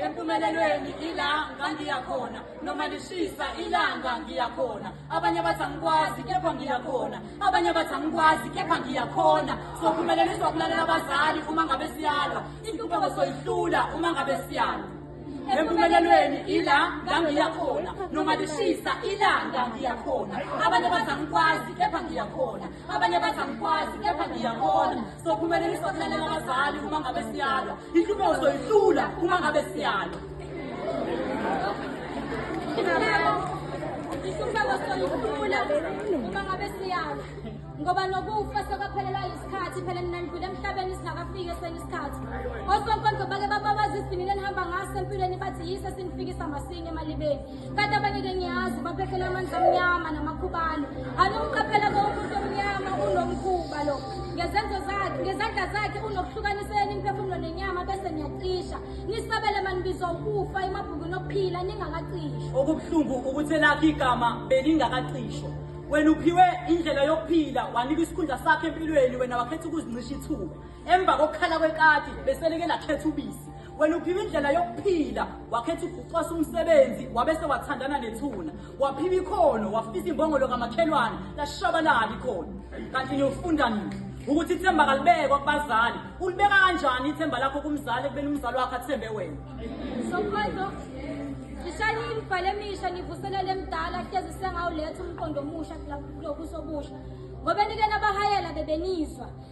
empumelelweni ila ngangiyakhona noma lishisa ilanga ngiyakhona abanye abathi angikwazi kepha ngiyakhona abanye abathi angikwazi kepha ngiyakhona sophumeleliswa kulalela abazali uma ngabe siyalwa inhlupheko soyihlula uma ngabe siyalwa empumelelweni ila ngangiyakhona noma lishisa ilanga ngiyakhona abanye abathi angikwazi kepha ngiyakhona abanye bathi angikwazi kepha ngiyakhona sophumelelisa ukulalela abazali uma ngabe siyalwa inhlupheko soyihlula uma ngabe siyalwa inhlupheko soyihlula uma ngabe siyalwa ngoba nokufa sekwaphelelwa yisikhathi phela nina nidlule emhlabeni singakafiki esenye isikhathi osonkondlo bake bababaza isivinini enihamba ngaso empilweni bathi yise sinifikisa masinya emalibeni Kanti abanye ke ngiyazi baphethele amanzi amnyama namakhubane. Anomqaphela konke umuntu omnyama unomkhuba lo. Ngezenzo zakhe, ngezandla zakhe unokuhlukanisela imiphefumulo nenyama bese niyacisha. Nisabele manibizwa ukufa emabhukwini okuphila ningakacishwa. Okubuhlungu ukuthi elakhe igama belingakacishwa. Wena uphiwe indlela yokuphila wanika isikhundla sakhe empilweni wena wakhetha ukuzincisha ithuba. Emva kokukhala kwekati beseleke lakhetha ubisi. wena uphiwa indlela yokuphila wakhetha ukucwasa umsebenzi wabese wathandana nethuna waphiwa ikhono wafisa imbongolo kamakhelwane lashabalala ikhono kanti niyofunda nini ukuthi ithemba kalibekwa kubazali ulibeka kanjani ithemba lakho kumzali ekubeni umzali wakho athembe wena Ishani imibhalo emisha nivuselele emdala hlezi sengawuletha umqondo omusha kulokusobusha ngoba nike nabahayela bebenizwa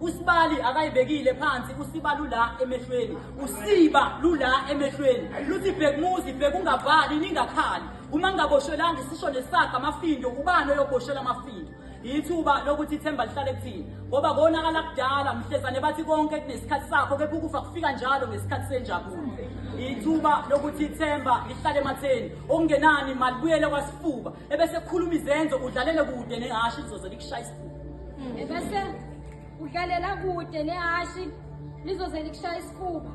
Usibali akayibekile phansi usiba lula emehlweni usiba lula emehlweni luthi bhekumuzi bhekungavali ningakhali uma ngingaboshelanga isisho nesakha amafindo ubani oyoboshela amafindo yithuba lokuthi ithemba lihlale kuthina ngoba konakala kudala mhlezane bathi konke kunesikhathi sakho kepha ukufa kufika njalo ngesikhathi senjabulo yithuba lokuthi ithemba lihlale ematheni okungenani malibuyele kwasifuba ebese kukhuluma izenzo udlalele kude nehhashi lizoze likushaya isifuba hmm. ebese udlalela kude nehhashi lizoze likushaya isifuba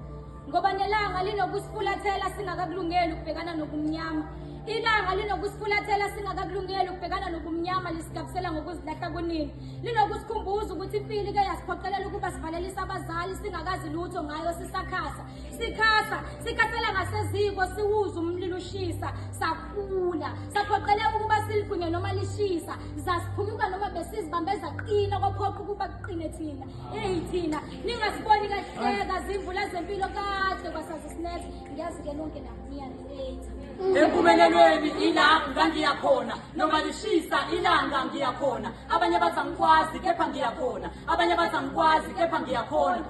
ngoba nelanga linokusifulathela singakakulungeli ukubhekana nobumnyama ilanga linokusifulathela singakakulungeli ukubhekana nobumnyama lisigabisela ngokuzilahla kunini linokusikhumbuza ukuthi impilo ike yasiphoqelela ukuba sivalelisa abazali singakazi lutho ngayo sisakhasa sikhasa sikhathela ngaseziko siwuza umlilo ushisa sakhula saphoqeleka ukuba siligwinye noma lishisa zasiphumuka noma besizibambe zaqina kwaphoqa ukuba kuqine thina eyi thina ningasiboni kahleka zimvula zempilo kade kwasazi sinethe ngiyazi-ke nonke nakuniyanilethi empumelelweni ila ngangiyakhona noma lishisa ilanga ngiyakhona abanye bathi angikwazi kepha ngiyakhona abanye bathi angikwazi kepha ngiyakhona